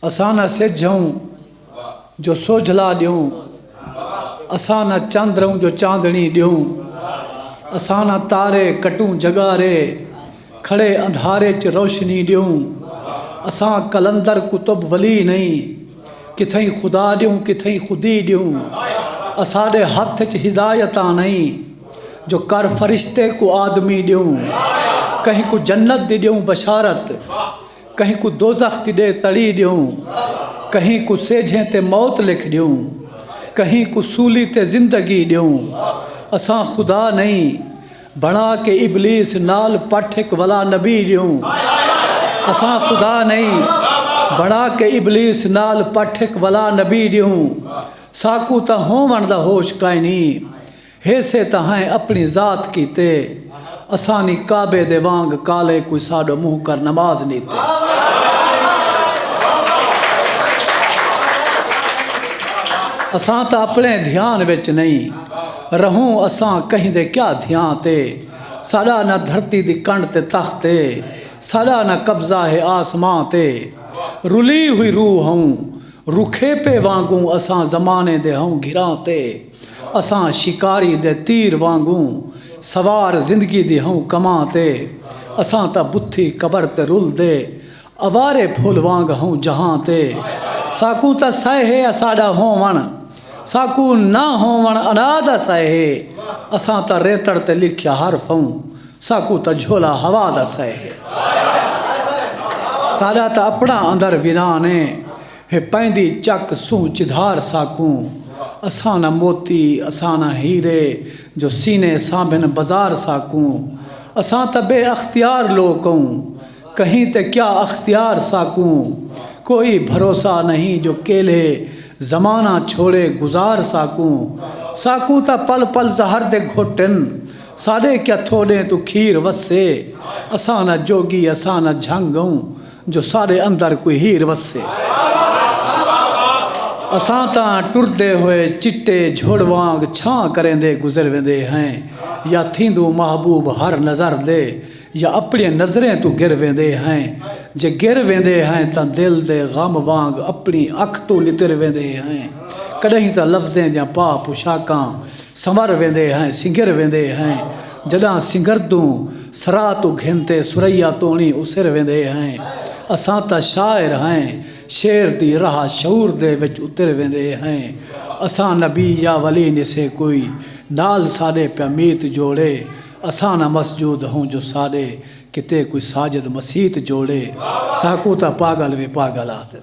اساں نہ سجھ ہوں جو سوجھلا ݙیوں اساں نہ چندر ہوں جو چاندݨی ݙیوں اساں نہ تارے کٹوں جڳارے کھڑے اندھارے چ روشنی ݙیوں اساں قلندر قطب ولی نئیں کتھئیں خدا ݙیوں کتھئیں خودی ݙیوں اساݙے ہتھ اچ ہدایتاں نئیں جو کر فرشتے کوں آدمی ݙیوں کہیں کوں جنت دی ݙیوں بشارت کہیں کوں دوزخ دی ݙے تڑی ݙیوں کہیں کوں سیجھیں تے موت لکھ ݙیوں کہیں کوں سولی تے زندگی ݙیوں اساں خدا نئیں بݨا کے ابلیس نال پٹھ ہک ولا نبی ݙیوں اساں خدا نئیں بݨا کے ابلیس نال پٹھ ہک ولا نبی ݙیوں ساکوں تاں ہووݨ دا ہوش کائنی۔ ہیسے تاں ہیں اپنی ذات کیتے اسانی کعبے دے وانگ کالے کوئی ساڈو منہ کر نماز نیتے اساں تاں اپنے دھیان وچ نہیں رہوں اساں کہیں دے کیا دھیاں تے ساڈا نہ دھرتی دی کنڈ تے تخت ہے ساڈا نہ قبضہ ہے آسماں تے رلی ہوئی روح ہوں رکھیپے وانگوں اساں زمانے دے ہوں گھراں تے اساں شکاری دے تیر وانگوں سوار زندگی دی ہوں کماں تے اساں تاں بتھی قبر تے رل دے اوارے پھل وانگ ہوں جہاں تے ساکوں تاں سئے ہے اساڈا ہوون ساکوں نہ ہوون انا دا سئے ہے اساں تاں ریتڑ تے لکھیا حرف ہوں ساکوں تاں جھولا ہوا دا سئے ہے ساڈا تاں اپنا اندر ویران ہے۔ ہے پیندی چک سوں چدھار ساکوں اساں نہ موتی اساں نہ ہیرے جو سینے سانبھن بزار ساکوں اساں تاں بے اختیار لوک اوں کہیں تے کیا اختیار ساکوں کوئی بھروسہ نہیں جو کیلھے زمانہ چھوڑے گزار ساکوں ساکوں تاں پل پل زہر دے گھٹ ہن ساݙے کیا تھوݙیں توں کھیر وسے اساں نہ جوڳی اساں نہ جھنگ اوں جو ساݙے اندر کوئی ہیر وسے۔ اساں تاں ٹردے ہوئے چٹے جھڑ وانگ چھاں کریندے گزر ویندے ہیں یا تھیندوں محبوب ہر نظر دے یا اپݨیاں نظریں توں گر ویندے ہیں۔ جے گر ویندے ہیں تاں دل دے غم وانگ اپݨی اکھ توں نتر ویندے ہیں۔ کݙاہیں تاں لفظیں دیاں پا پوشاکاں سنور ویندے ہیں سنگر ویندے ہیں جݙاں سنگر توں سرا توں گھن تے ثریا توݨی اسر ویندے ہیں اساں تاں شاعر ہیں شعر دی راہ شعور دے وچ اتر ویندے ہیں اساں نبی یا ولی نسے کوئی نال ساݙے پیا میت جوڑے اساں نہ مسجود ہوں جو ساݙے کیتے کوئی ساجد مسیت جوڑے ساکوں تاں پاڳل وی پاڳل آہدن۔